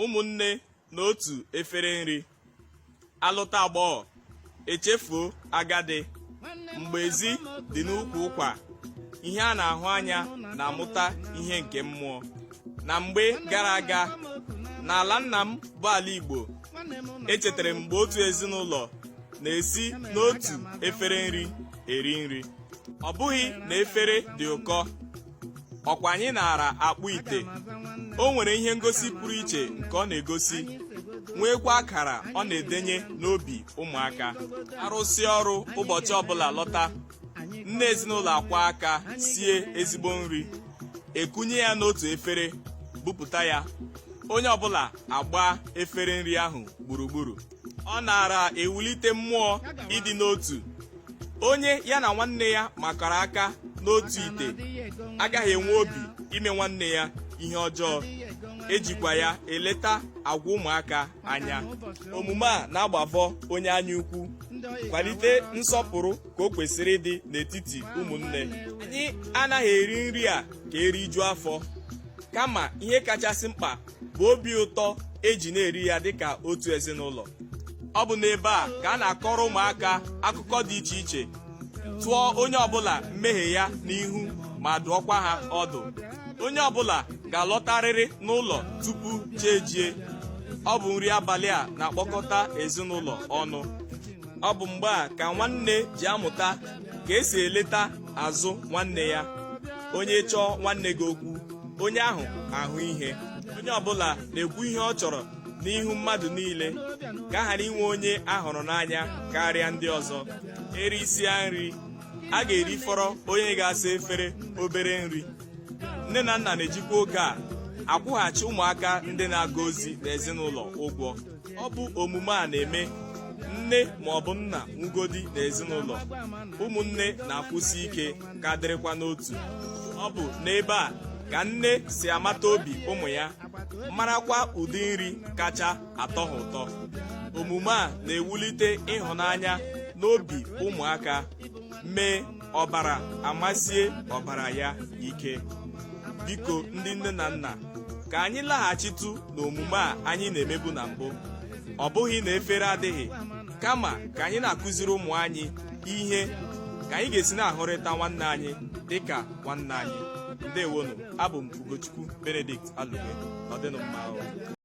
ụmụnne n'otu efere nri alụta agbọghọ echefuo agadi mgbe ezi dị n'ukwu ụkwa ihe a na-ahụ anya na-amụta ihe nke mmụọ na mgbe gara aga n'ala nna m bụ ala Igbo echetara m mgbe otu ezinụlọ na-esi n'otu efere nri eri nri ọ bụghị na efere dị ụkọ ọkwa anyị naara akpụ ite o nwere ihe ngosi pụrụ iche nke ọ na-egosi nweekwa akara ọ na-edenye n'obi ụmụaka arụsịa ọrụ ụbọchị ọbụla lọta nne ezinụlọ akwọọ aka sie ezigbo nri ekunye ya n'otu efere bupụta ya onye ọbụla agbaa efere nri ahụ gburugburu ọ naara ewulite mmụọ ịdị n'otu onye ya na nwanne ya makọrọ aka n'otu ite agaghị enwe obi ime nwanne ya ihe ọjọọ ejikwa ya eleta agwa ụmụaka anya omume a na-agbavọ onye anya ukwu kwalite nsọpụrụ ka o kwesịrị ịdị n'etiti ụmụnne anyị anaghị eri nri a ka erijuo afọ kama ihe kachasị mkpa bụ obi ụtọ eji na-eri ya dịka otu ezinụlọ ọ bụ n'ebe a ka a na-akọrọ ụmụaka akụkọ dị iche iche tụọ onye ọbụla mmehie ya n'ihu ma dụọkwa ha ọdụ onye ọbụla ga-alọtarịrị n'ụlọ tupu chi ejie ọ bụ nri abalị a na-akpọkọta ezinụlọ ọnụ ọ bụ mgbe a ka nwanne ji amụta ka esi eleta azụ nwanne ya onye chọọ nwanne gị okwu onye ahụ ahụ ihe onye ọbụla na-ekwu ihe ọ chọrọ n'ihu mmadụ niile ka a ghara inwe onye a hụrụ n'anya karịa ndị ọzọ erisia nri a ga-erifọrọ onye ga-asa efere obere nri nne na nna na-ejikwa oge a akwụghachi ụmụaka ndị na-aga ozi n'ezinụlọ ụgwọ ọ bụ omume a na-eme nne ma ọ bụ nna nwugodi n'ezinụlọ ụmụnne na-akwụsi ike ka dịrịkwa n'otu ọ bụ n'ebe a ka nne si amata obi ụmụ ya marakwa ụdị nri kacha atọ ha ụtọ omume a na-ewulite ịhụnanya n'obi ụmụaka mee ọbara amasie ọbara ya ike biko ndị nne na nna ka anyị laghachitụ n'omume a anyị na-emebu na mbụ ọ bụghị na efere adịghị kama ka anyị na-akụziri ụmụ anyị ihe ka anyị ga-esi na-ahụrịta nwanne anyị dịka nwanne anyị ndewonu abụ m Ugochukwu Benedict Alugbe ọ dịnụ mma